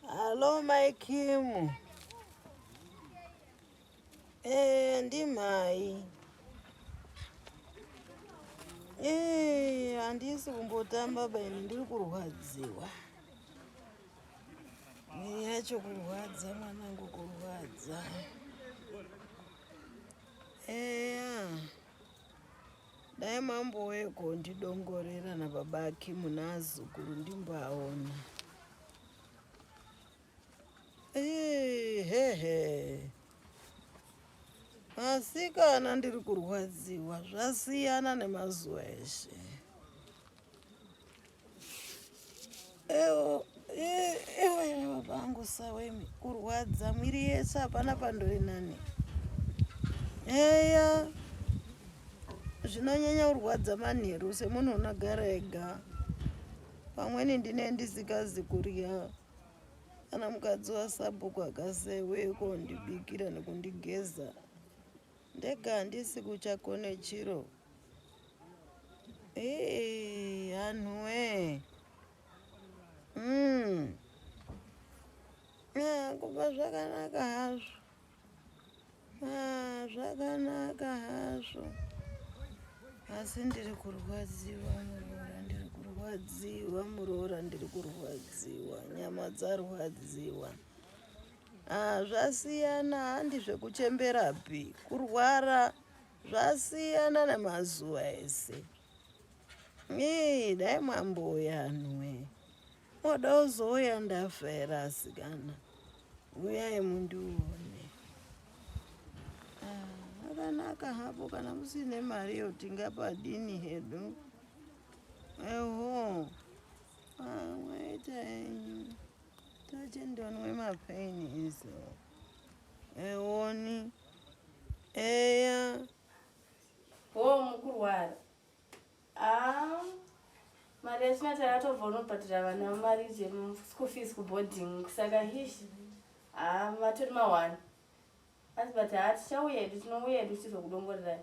Hello mai Kim. Eh, ndimai. Eh, handisi kumbotamba baba ini ndiri kurwadziwa. Nyaya yacho kurwadza mwanangu kurwadza. Eh. Yeah. Dai mambo weko ndidongorera na baba Kim naazukuru ndimboaona. Hehe. Asikana ndiri kurwadziwa zvasiyana nemazuva eshe. sawemi kurwadza mwiri yese hapana pandori nani eya zvinonyanya kurwadza manheru semunhu unogara ega pamweni ndine ndisikazi kurya kana mukadzi wasabhuku akaseweko ndibikira nekundigeza ndega handisi kuchakone chiro anhuwee mm. ah, kuba zvakanaka hazvo ah, zvakanaka hazvo asi ndiri kurwadziwa muroora ndiri kurwadziwa muroora ndiri kurwadziwa nyama dzarwadziwa ah, zvasiyana handi zvekuchemberapi kurwara Zvasiyana nemazuva ese. Ii dai mwambouya anhuwe. Moda uzouya ndafa here asikana? Uyai mundione. Ah, akanaka hapo kana musine mari yo tingapadini hedu. Eho. Ah, mwaita henyu. Tache ndonwe mapain izo. Ewoni. eya hoo mukurwara ah, mari yachina takatobva unobhadhira vana mari zvemschool fees kuboarding saka hishi ah, vatori mawana asi but haa tichauya edu tinouya edu tichizokudongorerai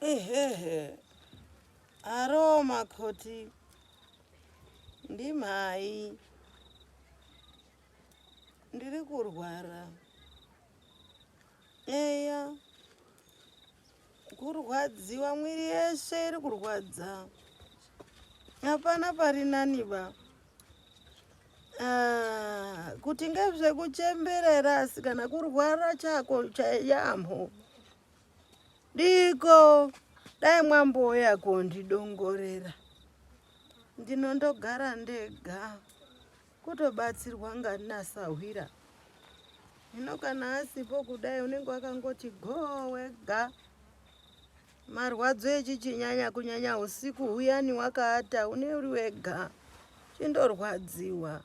Ehehe. Aro makoti. Ndimhai. Ndiri kurwara. Eya. Kurwadziwa mwiri yeshe iri kurwadza. Hapana pari nani ba. Ah, kuti ngezvekuchemberera asi kana kurwara chako chayamho diko dai mwambouya kondidongorera ndino ndogara ndega kutobatsirwa nganasahwira hino kana asipo kudai unenge wakangoti go wega Marwadzo echichinyanya kunyanya usiku huyani wakaata une uri wega chindorwadziwa.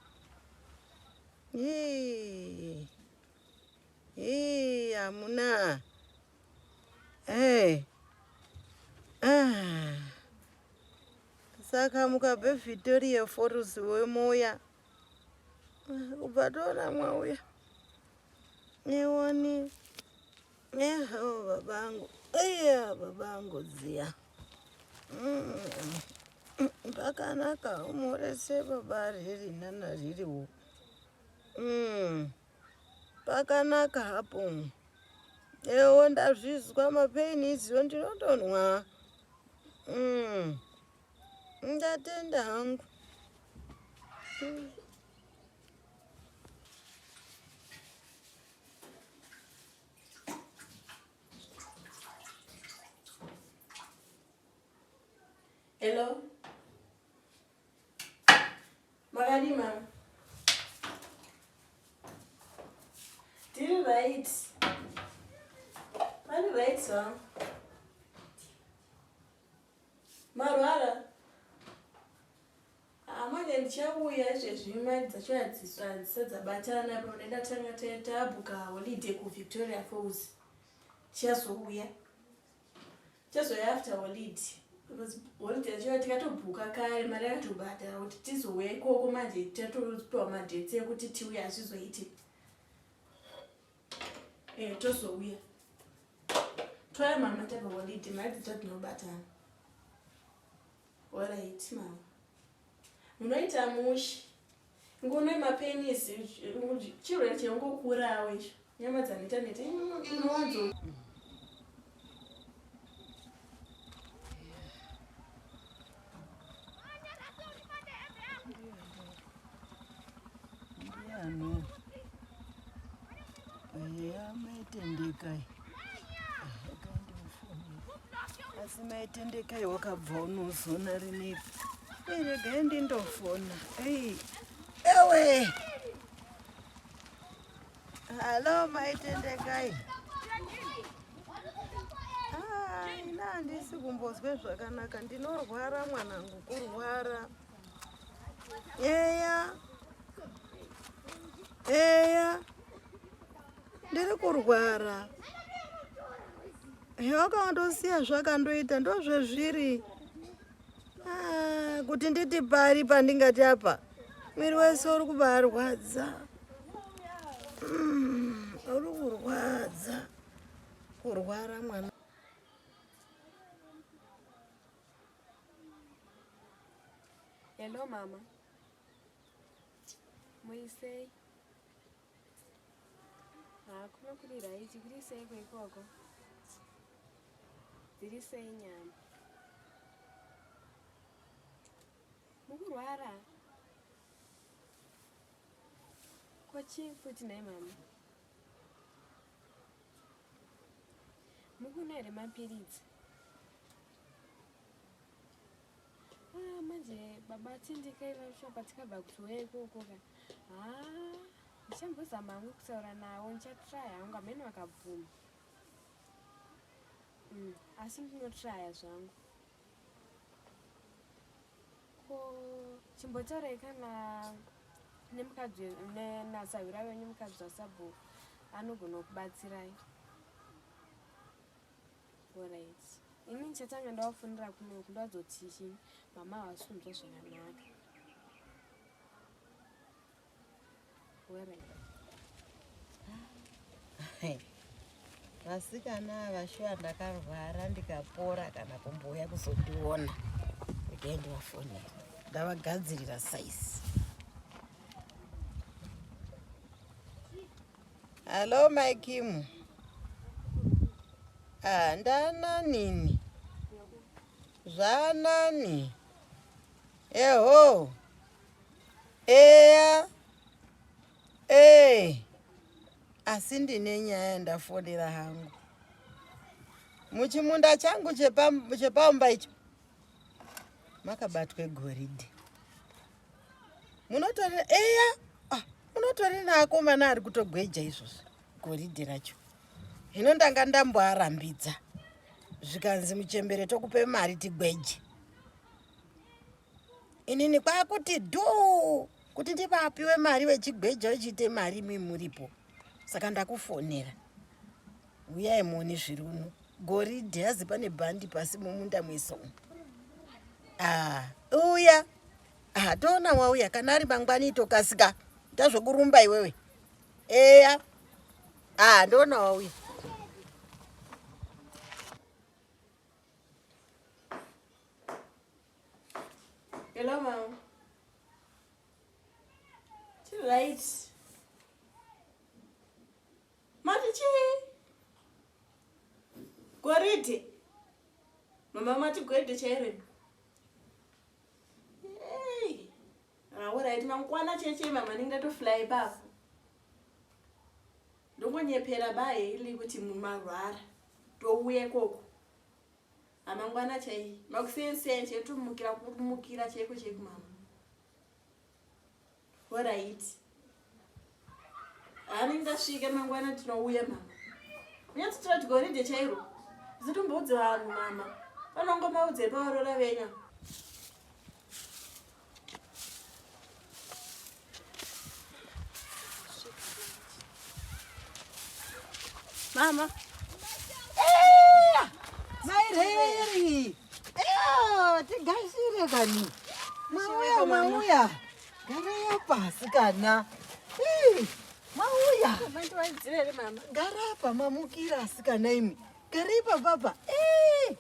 Hii. Hii hamuna. Hey. Ah. Saka mukabve Victoria Falls wemoya. Ubva toona mwauya. Newoni. Eho babangu, eya babangu dziya. Pakanaka mm. umurese baba riri nana ririwo. Mm. Pakanaka hapo. Ewo ndazvizwa mapaini iziwo ndinotonwa. Mm. Ndatenda hangu. Mm. Hello. Makadi mama. Tiri right. Mari right song. Marwara. Ah, manje ndichauya izvezvi mari dzacho hadzisadzadzabatana pamene ndatanga tabuka holiday kuvictoria falls tichazouya tichazouya after holiday because holiday yacho tikatobhuka kare mari yakatobhadhara kuti tizouya ikoko manje tatopiwa madhets ekuti tiuye hazvizoiti e tozouya toya mama tava holiday mari dzacho tinobatana Horaiti mama. Munoita mushe. Ngono mapenisi chirwere chengokurawo icho. Nyama dzaneta neta. Inowanzo. Ndiano. Eya maitendekai. Asi maitendekai wakabva unozona rinepi. Regai ndindofona. Ei. Ewe. Hello maitendekai. Ah, ina handisi kumbozwe zvakanaka ndinorwara mwanangu kurwara. eya eya ndiri kurwara hewakawandosiya zvakandoita ndozvezviri ah, kuti nditi pari pandingati apa mwiri wese uri kubarwadza mm, uri kurwadza kurwara mwana Hello mama. Muisei. Ah, kuma kuri right, kuri sei kwa ikoko? Dziri sei nyama? Mukurwara? Kochi futi naye mama. Mukuna here mapiritsi? Ah, manje baba tindikai vashopa tikabva kuti uya ikoko ka haa ndichambozama hangu kutaura navo ndichatraya hangu hamene vakabvuma mm, asi ndinotraya zvangu ko chimbotaurai kana nemukadzi nasahwira venyu mukadzi wasabhuku anogona kubatsirai Alright. Ini ndichatanga ndawafonera kuno uku ndadzoti chii mama havasi kunzwa zvakanaka. Alright. Vasikana ava shuwa ndakarwara ndikapora kana kumbouya kuzondiona. Ndege ndivafonera. Ndavagadzirira size. Hello my Kim. Ah, ndana nini? Zvanani? Eho. Eya. Eh. Asi ndine nyaya ndafonera hangu. Muchimunda changu chepaumba icho makabatwe goridhe. munotori eya ah, munotori naakomana ari kutogweja izvozvo goridhe racho hino ndanga ndamboarambidza zvikanzi muchembere tokupe mari tigweje inini kwakuti dhuu kuti ndivapiwe mari vechigweja vechiite mari mimuripo saka ndakufonera Huyai muone zviri uno. Goridhe hazi pane bhandi pasi mumunda mweso. Ah, uya. Ah, toona wauya kana ari mangwani tokasika. Tazvokurumba iwewe. Eya. Ah, ndoona wauya. Hello, mom. Too late. Mati chii? Goridhe. Mama mati goridhe chairo. Hey. Alright, ah, mangwana cheche mama ninga to fly bafu. Ndongonyepera bae ili kuti mumarwara. Touye koko. Amangwana ah, chai. Makusenseni chetumukira kumukira cheko chekumama. Horaiti. Hani ndasvika mangwana tinouya mama. Nyati tirati goridhe chairo. Zitomboudze vanhu mama. Vanongomaudze pavarora venyu. Mama. Maireri. Eyo, tigashire kani. Mauya, mauya. Garaya pasi kana. Mauya. Garapa mamukira asikana imi. Garei papapa. Eh.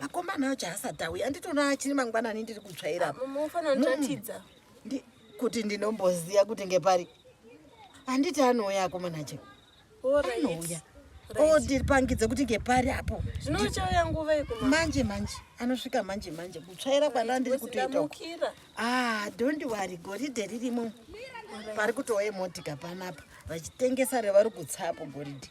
makomana acho haasati auya anditoona achiri mangwanani ndiri kutsvaira apa munofanira kundiratidza Ndi- kuti ndinomboziva kuti ngepari handiti anouya akomana acho Alright. anouya Right. ondipangidza kuti ngepari apo zvino uchauya nguva yekuma manje manje anosvika manje manje kutsvaira kwandandiri kutoita uku. ndamukira Ah, don't worry, goridhe ririmo pari kutouya motika panapa vachitengesa revari kutsapo goridhe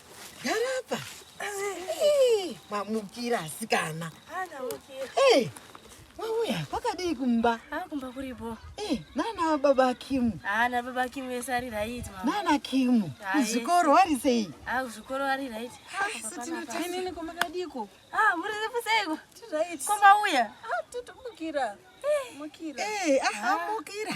Garapa. Eh, mamukira asikana. Ana mukira. Eh. Wauya kwakadii kumba? Ah, kumba kuripo. Eh, nana baba Kimu. Ah, na baba Kimu vese ari right mama. Nana Kimu. Kuzvikoro ari sei? Ah, kuzvikoro ari right. Ah, sitina time ni kumba kadiko. Ah, muri zefu seiko? Ti right. Kumba uya. Ah, tutomukira. Eh, mukira. Eh, ah, mukira.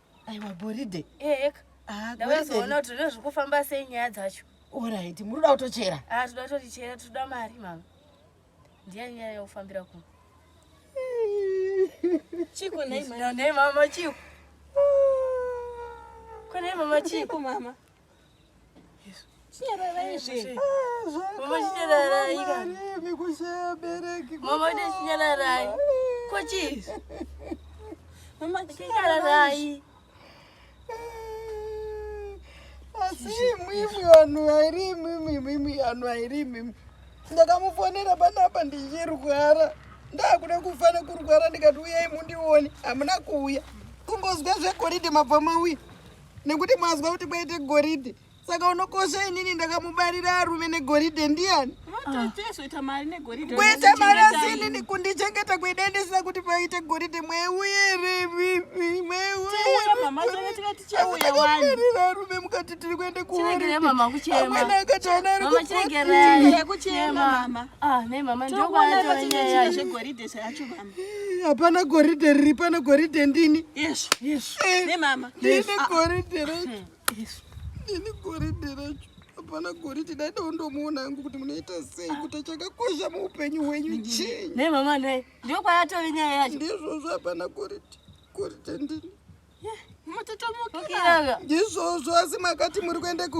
aiwa goridhe ehek ah, ndavazoona kuti rine zvekufamba sei nyaya dzacho orit munoda kutochera a ah, toda kutotichera toda mari mama ndiya nyaya yaufambira ku chiku nei mama chiku kwanei mama chiku mama asiimwimwi vanhu vairimwimwimwimwi vanhu vairimwimwi ndakamufonera panapa ndichirwara ndakuda kufa nekurwara ndikati uyai mundione hamuna kuuya kungozwa zvegoridhe mabvamauya nekuti mazwa kuti kwaite goridhe saka unokosha inini ndakamubarira arume negoridhe ndiyani kuita mari asi inini kundichengeta kuida ndisina kuti paite goridhe mweuere mweuerira arume mukati tiri kuenda kuamwena akataona ari kukuti hapana goridhe riri pano goridhe ndini yesu yesu eh, nemama ndini ah, ah. goridhe racho hmm, yesu ndini goridhe racho hapana goridhe dai dondomuona hangu kuti munoita sei kuti achakakosha muupenyu hwenyu chinyi ne mama ne ndiko kwayatove nyaya yacho ndizvozvo hapana goridhe goridhe ndini mutotomukira ndizvozvo asi makati muri kuenda ku